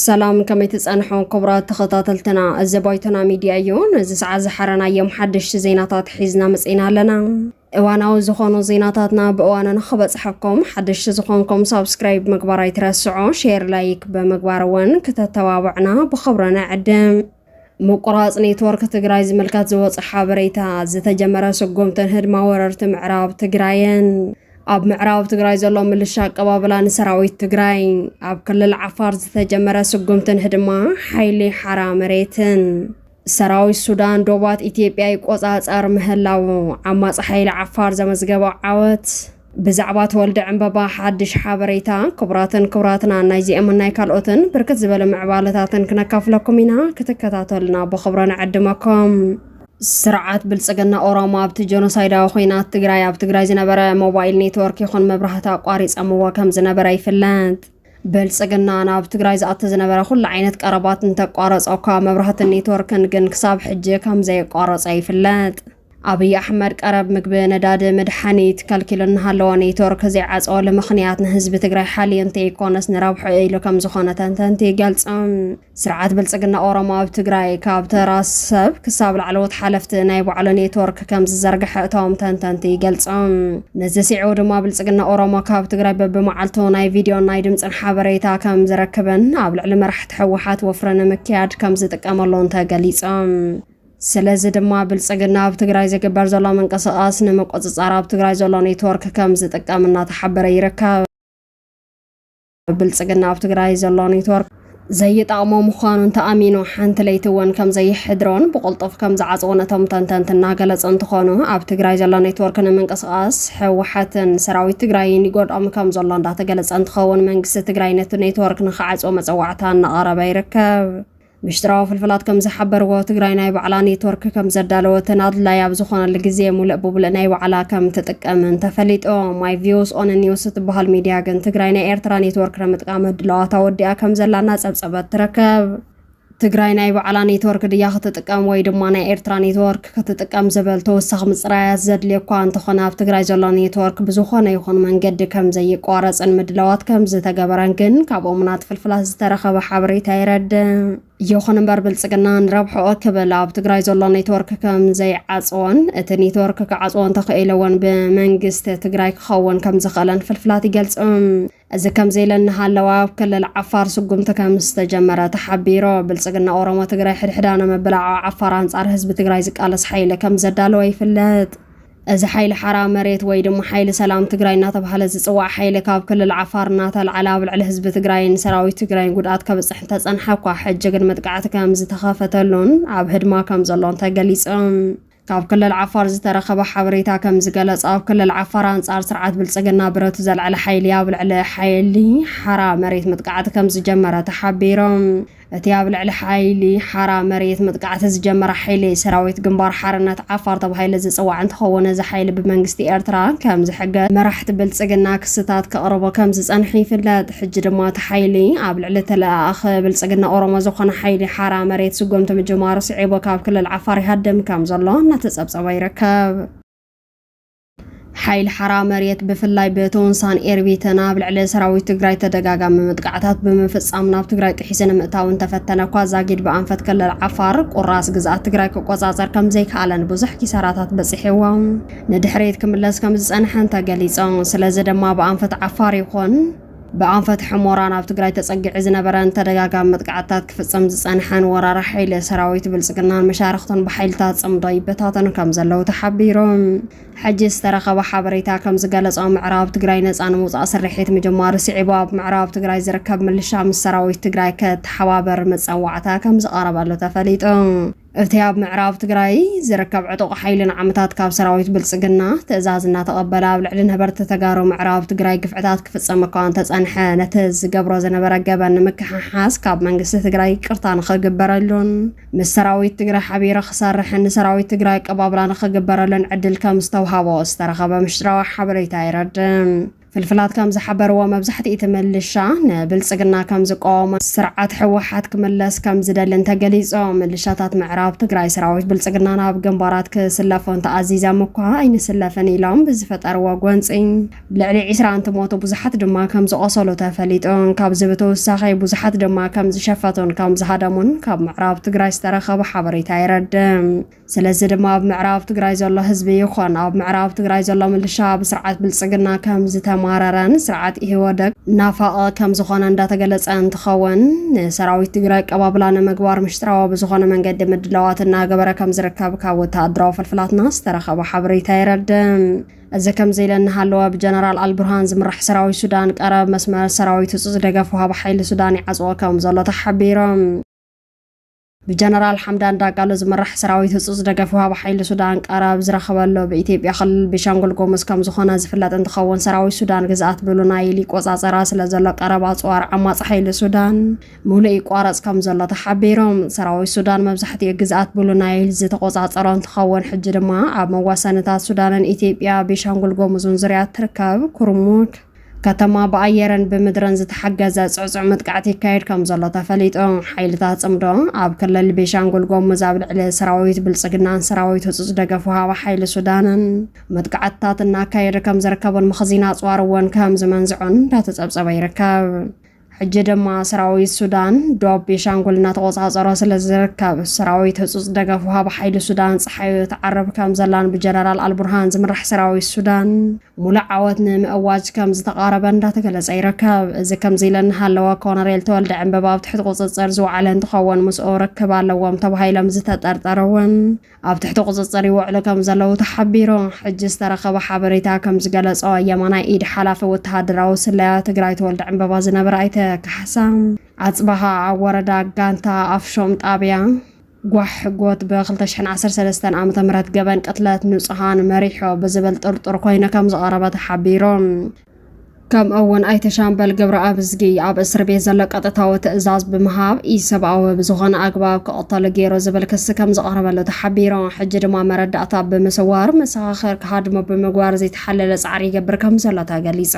ሰላም ከመይ ትፀንሑ ክቡራት ተኸታተልትና፣ እዚ ባይቶና ሚድያ እዩ። ነዚ ሰዓት ዝሓረናዮም ሓደሽቲ ዜናታት ሒዝና መፅና ኣለና። እዋናዊ ዝኾኑ ዜናታትና ብእዋኑ ንኽበፅሐኩም ሓደሽቲ ዝኾንኩም ሳብስክራይብ ምግባር ኣይትረስዑ፣ ሼር ላይክ ብምግባር እውን ክተተባብዑና ብኽብሪ ንዕድም። ምቁራፅ ኔትወርክ ትግራይ ዝምልከት ዝወፀ ሓበሬታ፣ ዝተጀመረ ስጉምትን ህድማ ወረርቲ ምዕራብ ትግራይን፣ ኣብ ምዕራብ ትግራይ ዘሎ ምልሻ ኣቀባብላ ንሰራዊት ትግራይ፣ ኣብ ክልል ዓፋር ዝተጀመረ ስጉምትን ህድማ ሓይሊ ሓራ መሬትን። ሰራዊት ሱዳን ዶባት ኢትዮጵያ ይቆፃፀር ምህላዉ ዓማፂ ሓይሊ ዓፋር ዘመዝገቦ ዓወት ብዛዕባ ተወልደ ዕምበባ ሓድሽ ሓበሬታ ክቡራትን ክቡራትና ናይዚኦምን ናይ ካልኦትን ብርክት ዝበለ ምዕባለታትን ክነካፍለኩም ኢና ክትከታተሉና ብክብሮ ንዕድመኩም ስርዓት ብልጽግና ኦሮሞ ኣብቲ ጀኖሳይዳዊ ኩናት ትግራይ ኣብ ትግራይ ዝነበረ ሞባይል ኔትወርክ ይኹን መብራህቲ ኣቋሪጸምዎ ከም ዝነበረ ይፍለጥ። ብልፅግና ናብ ትግራይ ዝኣቲ ዝነበረ ኩሉ ዓይነት ቀረባት እንተቋረፆ እኳ መብራህትን ኔትወርክን ግን ክሳብ ሕጂ ከምዘየቋረፀ ይፍለጥ። ኣብይ ኣሕመድ ቀረብ ምግቢ፣ ነዳዲ፣ መድሓኒት ከልኪሉ እናሃለወ ኔትወርክ ዘይዓፀወሉ ምኽንያት ንህዝቢ ትግራይ ሓልዩ እንተይኮነስ ንረብሕኡ ኢሉ ከምዝኾነ ተንተንቲ ይገልፁ። ስርዓት ብልፅግና ኦሮሞ ኣብ ትግራይ ካብ ተራ ሰብ ክሳብ ላዕለዎት ሓለፍቲ ናይ ባዕሉ ኔትወርክ ከም ዝዘርግሐ እቶም ተንተንቲ ይገልፆም። ነዚ ስዒቡ ድማ ብልፅግና ኦሮሞ ካብ ትግራይ በብመዓልቱ ናይ ቪድዮን ናይ ድምፅን ሓበሬታ ከም ዝረክብን ኣብ ልዕሊ መራሕቲ ህወሓት ወፍሪ ንምክያድ ከም ዝጥቀመሉን ተገሊፆም። ስለዚ ድማ ብልፅግና ኣብ ትግራይ ዝግበር ዘሎ ምንቅስቓስ ንምቁፅፃር ኣብ ትግራይ ዘሎ ኔትወርክ ከም ዝጥቀም እናተሓበረ ይርከብ። ብልፅግና ኣብ ትግራይ ዘሎ ኔትወርክ ዘይጠቕሞ ምዃኑ እንተኣሚኑ ሓንቲ ለይቲ እውን ከም ዘይሕድሮን ብቕልጡፍ ከም ዝዓፅዎን እቶም ተንተንቲ እናገለፁ እንትኾኑ ኣብ ትግራይ ዘሎ ኔትወርክ ንምንቅስቓስ ህወሓትን ሰራዊት ትግራይን ይጎድኦም ከም ዘሎ እንዳተገለፀ እንትኸውን መንግስቲ ትግራይ ነቲ ኔትወርክ ንክዓፅዎ መፀዋዕታ እናቐረበ ይርከብ። ምሽጥራዊ ፍልፍላት ከም ዝሓበርዎ፣ ትግራይ ናይ ባዕላ ኔትወርክ ከም ዘዳለወትን ኣድላዪ ኣብ ዝኾነሉ ግዜ ሙልእ ብሙልእ ናይ ባዕላ ከም ትጥቀምን ተፈሊጡ። ማይ ቪውስ ኦን ኒውስ እትበሃል ሚድያ ግን ትግራይ ናይ ኤርትራ ኔትወርክ ንምጥቃም ህድላዋት ኣወዲኣ ከም ዘላ እናጸብጸበት ትርከብ። ትግራይ ናይ ባዕላ ኔትወርክ ድያ ክትጥቀም ወይ ድማ ናይ ኤርትራ ኔትወርክ? ክትጥቀም ዝብል ተወሳኺ ምፅራያት ዘድልዮኳ እንተኾነ ኣብ ትግራይ ዘሎ ኔትወርክ ብዝኾነ ይኹን መንገዲ ከምዘይቋረፅን ምድላዋት ከምዝተገበረን ግን ካብ እሙናት ፍልፍላት ዝተረኸበ ሓበሬታ የረድእ። ይኹን እምበር ብልፅግና ንረብሕኦ ክብል ኣብ ትግራይ ዘሎ ኔትወርክ ከምዘይዓፅዎን እቲ ኔትወርክ ክዓፅዎ እንተኽኢለ እውን ብመንግስቲ ትግራይ ክኸውን ከምዝኽእለን ፍልፍላት ይገልፁ። እዚ ከምዚ ኢለ እናሃለወ ኣብ ክልል ዓፋር ስጉምቲ ከም ዝተጀመረ ተሓቢሩ። ብልፅግና ኦሮሞ ትግራይ ሕድሕዳ ንምብላዕ ኣብ ዓፋር ኣንፃር ህዝቢ ትግራይ ዝቃለስ ሓይሊ ከም ዘዳለወ ይፍለጥ። እዚ ሓይሊ ሓራ መሬት ወይ ድማ ሓይሊ ሰላም ትግራይ እናተብሃለ ዝፅዋዕ ሓይሊ ካብ ክልል ዓፋር እናተልዓለ ኣብ ልዕሊ ህዝቢ ትግራይን ሰራዊት ትግራይን ጉድኣት ከብፅሕ እንተፀንሐ እኳ ሕጂ ግን መጥቃዕቲ ከም ዝተኸፈተሉን ኣብ ህድማ ከም ዘሎን ተገሊፁ። ካብ ክልል ዓፋር ዝተረኸበ ሓበሬታ ከምዝገለፆ ኣብ ክልል ዓፋር ኣንፃር ስርዓት ብልፅግና ብረቱ ዘልዐለ ሓይሊ ኣብ ልዕሊ ሓይሊ ሓራ መሬት መጥቃዕቲ ከምዝጀመረ ተሓቢሩ። እቲ ኣብ ልዕሊ ሓይሊ ሓራ መሬት መጥቃዕቲ ዝጀመረ ሓይሊ ሰራዊት ግንባር ሓርነት ዓፋር ተባሂሉ ዝፅዋዕ እንትኸውን እዚ ሓይሊ ብመንግስቲ ኤርትራ ከምዝሕገዝ መራሕቲ ብልፅግና ክስታት ከቕርቡ ከምዝፀንሑ ይፍለጥ። ሕጂ ድማ እቲ ሓይሊ ኣብ ልዕሊ ተለኣኣኺ ብልጽግና ኦሮሞ ዝኾነ ሓይሊ ሓራ መሬት ስጎምቲ ምጅማሩ ስዒቡ ካብ ክልል ዓፋር ይሃድም ከም ዘሎ እናተጸብጸበ ይርከብ። ሓይሊ ሓራ መሬት ብፍላይ ብቶንሳን ኤርቢትን ኣብ ልዕሊ ሰራዊት ትግራይ ተደጋጋሚ መጥቃዕታት ብምፍጻም ናብ ትግራይ ጥሒሱ ንምእታው እንተፈተነ እኳ ዛጊድ ብኣንፈት ክልል ዓፋር ቁራስ ግዝኣት ትግራይ ክቆጻጸር ከም ዘይከኣለን ብዙሕ ኪሳራታት በጺሕዎ ንድሕሪት ክምለስ ከም ዝጸንሐን ተገሊጹ። ስለዚ ድማ ብኣንፈት ዓፋር ይኹን ብኣንፈት ሕሞራ ናብ ትግራይ ተጸጊዑ ዝነበረን ተደጋጋሚ መጥቃዕትታት ክፍጽም ዝጸንሐን ወራሪ ሓይሊ፣ ሰራዊት ብልጽግናን መሻርኽቱን ብሓይልታት ጽምዶ ይበታተኑ ከም ዘለዉ ተሓቢሩ። ሕጂ ዝተረኸበ ሓበሬታ ከም ዝገለጾ ምዕራብ ትግራይ ነጻ ንምውጻእ ስርሒት ምጅማሩ ስዒቡ ኣብ ምዕራብ ትግራይ ዝርከብ ምልሻ ምስ ሰራዊት ትግራይ ከተሓባበር መጸዋዕታ ከም ዝቐረበሉ ተፈሊጡ። እቲ ኣብ ምዕራብ ትግራይ ዝርከብ ዕጡቕ ሓይሊ ንዓመታት ካብ ሰራዊት ብልፅግና ትእዛዝ እናተቐበለ ኣብ ልዕሊ ነበርቲ ተጋሩ ምዕራብ ትግራይ ግፍዕታት ክፍፀም እኳ እንተፀንሐ ነቲ ዝገብሮ ዝነበረ ገበን ንምክሕሓስ ካብ መንግስቲ ትግራይ ይቅርታ ንኽግበረሉን ምስ ሰራዊት ትግራይ ሓቢሩ ክሰርሕን ንሰራዊት ትግራይ ኣቀባብላ ንኽግበረሉን ዕድል ከም ዝተውሃቦ ዝተረኸበ ምሽጥራዊ ሓበሬታ የረድእ። ፍልፍላት ከም ዝሓበርዎ መብዛሕቲ'ቲ ምልሻ ንብልጽግና ከም ዝቃወሞን ስርዓት ህወሓት ክምለስ ከም ዝደልን ተገሊጾ። ምልሻታት ምዕራብ ትግራይ ሰራዊት ብልጽግና ናብ ግንባራት ክስለፉ እንተኣዚዘም'ኳ ኣይንስለፍን ኢሎም ብዝፈጠርዎ ጎንጺ ልዕሊ ዕስራ እንትሞቱ ብዙሓት ድማ ከም ዝቖሰሉ ተፈሊጡ። ካብዚ ብተወሳኺ ብዙሓት ድማ ከም ዝሸፈቱን ከም ዝሃደሙን ካብ ምዕራብ ትግራይ ዝተረኸበ ሓበሬታ የረድእ። ስለዚ ድማ ኣብ ምዕራብ ትግራይ ዘሎ ህዝቢ ይኾን ኣብ ምዕራብ ትግራይ ዘሎ ምልሻ ብስርዓት ብልፅግና ከም ዝተማረረን ስርዓት ኢህወደግ ናፋቒ ከም ዝኾነ እንዳተገለፀ እንትኸውን ንሰራዊት ትግራይ ኣቀባብላ ንምግባር ምሽጥራዊ ብዝኾነ መንገዲ ምድላዋት እናገበረ ከም ዝርከብ ካብ ወተሃደራዊ ፍልፍላትና ዝተረኸበ ሓበሬታ የረድእ። እዚ ከምዚ ኢለ እናሃለወ ብጀነራል ኣልቡርሃን ዝምራሕ ሰራዊት ሱዳን ቀረብ መስመር ሰራዊት ህፁፅ ደገፍ ወሃቢ ሓይሊ ሱዳን ይዓፅዎ ከም ዘሎ ተሓቢሮም። ብጀነራል ሓምዳን ዳጋሎ ዝምራሕ ሰራዊት ህፁፅ ደገፍ ወሃቢ ሓይሊ ሱዳን ቃር ኣብ ዝረኸበሎ ብኢትዮጵያ ክልል ቤንሻንጉል ጉሙዝ ከምዝኾነ ዝፍለጥ እንትኸውን ሰራዊት ሱዳን ግዝኣት ብሉ ናይል ይቆፃፀራ ስለዘሎ ቀረብ ኣፅዋር ዓማፂ ሓይሊ ሱዳን ሙሉእ ይቋረፅ ከምዘሎ ተሓቢሮም። ሰራዊት ሱዳን መብዛሕቲኡ ግዝኣት ብሉ ናይል ዝተቆፃፀሮ እንትኸውን ሕጂ ድማ ኣብ መዋሰንታት ሱዳንን ኢትዮጵያ ቤንሻንጉል ጉሙዝን ዙርያ እትርከብ ኩርሙክ ከተማ ብኣየርን ብምድርን ዝተሓገዘ ጽዕጹዕ መጥቃዕቲ ይካየድ ከም ዘሎ ተፈሊጡ። ሓይልታት ጽምዶ ኣብ ክልል ቤሻንጉል ጎሙዝ ኣብ ልዕሊ ሰራዊት ብልጽግናን ሰራዊት ህጹጽ ደገፍ ወሃቢ ሓይሊ ሱዳንን መጥቃዕትታት እናካየደ ከም ዝርከቡን መኽዚን ኣጽዋር እውን ከም ዝመንዝዑን እንዳተጸብጸበ ይርከብ። ሕጂ ድማ ሰራዊት ሱዳን ዶብ ቤሻንጉል እናተቖጻጸሮ ስለ ዝርከብ፣ ሰራዊት ህጹጽ ደገፍ ወሃቢ ሓይሊ ሱዳን ጸሓዩ ትዓርብ ከም ዘላን ብጀነራል ኣልቡርሃን ዝምራሕ ሰራዊት ሱዳን ሙሉእ ዓወት ንምእዋጅ ከም ዝተቓረበን እንዳተገለጸ ይርከብ። እዚ ከምዚ ኢለ እናሃለወ ኮነሬል ተወልደ ዕንበባ ኣብ ትሕቲ ቁጽጽር ዝወዓለ እንትኸውን ምስኡ ርክብ ኣለዎም ተባሂሎም ዝተጠርጠሩ እውን ኣብ ትሕቲ ቁፅፅር ይውዕሉ ከምዘለዉ ተሓቢሩ። ሕጂ ዝተረኸበ ሓበሬታ ከምዝገለፆ የማናይ ኢድ ሓላፊ ወተሃደራዊ ስለያ ትግራይ ተወልደ ዕንበባ ዝነበረ ኣይተ ካሕሳ ኣፅበሃ ኣብ ወረዳ ጋንታ ኣፍሾም ጣብያ ጓሕ ጎት ብ 2013 ዓ ም ገበን ቅትለት ንፁሃን መሪሖ ብዝብል ጥርጡር ኮይኑ ከምዝቐረበ ተሓቢሩ። ከምኡ እውን ኣይተ ሻምበል ገብረኣብዝጊ ኣብ እስር ቤት ዘሎ ቀጥታዊ ትእዛዝ ብምሃብ ኢሰብኣዊ ብዝኾነ ኣግባብ ክቕተሉ ገይሩ ዝብል ክሲ ከም ዝቐረበሉ ተሓቢሩ ሕጂ ድማ መረዳእታ ብምስዋር መሰኻኽር ክሃድሙ ብምግባር ዘይተሓለለ ፃዕሪ ይገብር ከም ዘሎ ተገሊፁ።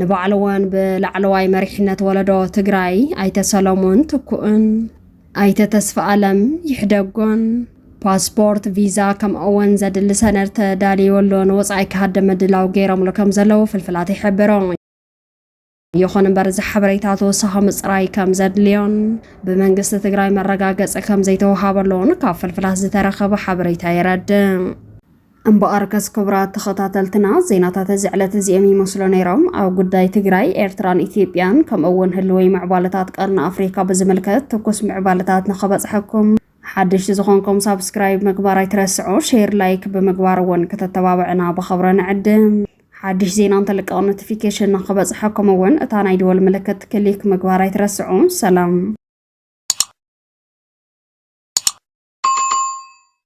ንባዕሉ እውን ብላዕለዋይ መሪሕነት ወለዶ ትግራይ ኣይተ ሰለሙን ትኩእን ኣይተ ተስፋኣለም ይሕደጎን ፓስፖርት፣ ቪዛ ከምኡ'ውን ዘድሊ ሰነድ ተዳልዩሉ ንወጻኢ ክሃድም ምድላው ገይሮምሉ ከምዘለዉ ፍልፍላት ይሕብሩ። ይኹን እምበር እዚ ሓበሬታ ተወሳኺ ምጽራይ ከም ዘድልዮን ብመንግስቲ ትግራይ መረጋገጺ ከም ዘይተወሃበሉን ካብ ፍልፍላት ዝተረኸበ ሓበሬታ የረድእ። እምበኣርከስ ክቡራት ተኸታተልትና ዜናታት እዚ ዕለት እዚኦም ይመስሉ ነይሮም። ኣብ ጉዳይ ትግራይ፣ ኤርትራን ኢትዮጵያን ከምኡ እውን ህልወይ ምዕባለታት ቀርኒ ኣፍሪካ ብዝምልከት ትኩስ ምዕባለታት ንኸበፅሐኩም ሓደሽቲ ዝኾንኩም ሳብስክራይብ ምግባር ኣይትረስዑ፣ ሼር ላይክ ብምግባር እውን ከተተባብዕና ብኸብረ ንዕድም። ሓድሽ ዜና እንተልቀቕ ኖቲፊኬሽን ንክበፅሐኩም እውን እታ ናይ ደወል ምልክት ክሊክ ምግባር ኣይትረስዑ። ሰላም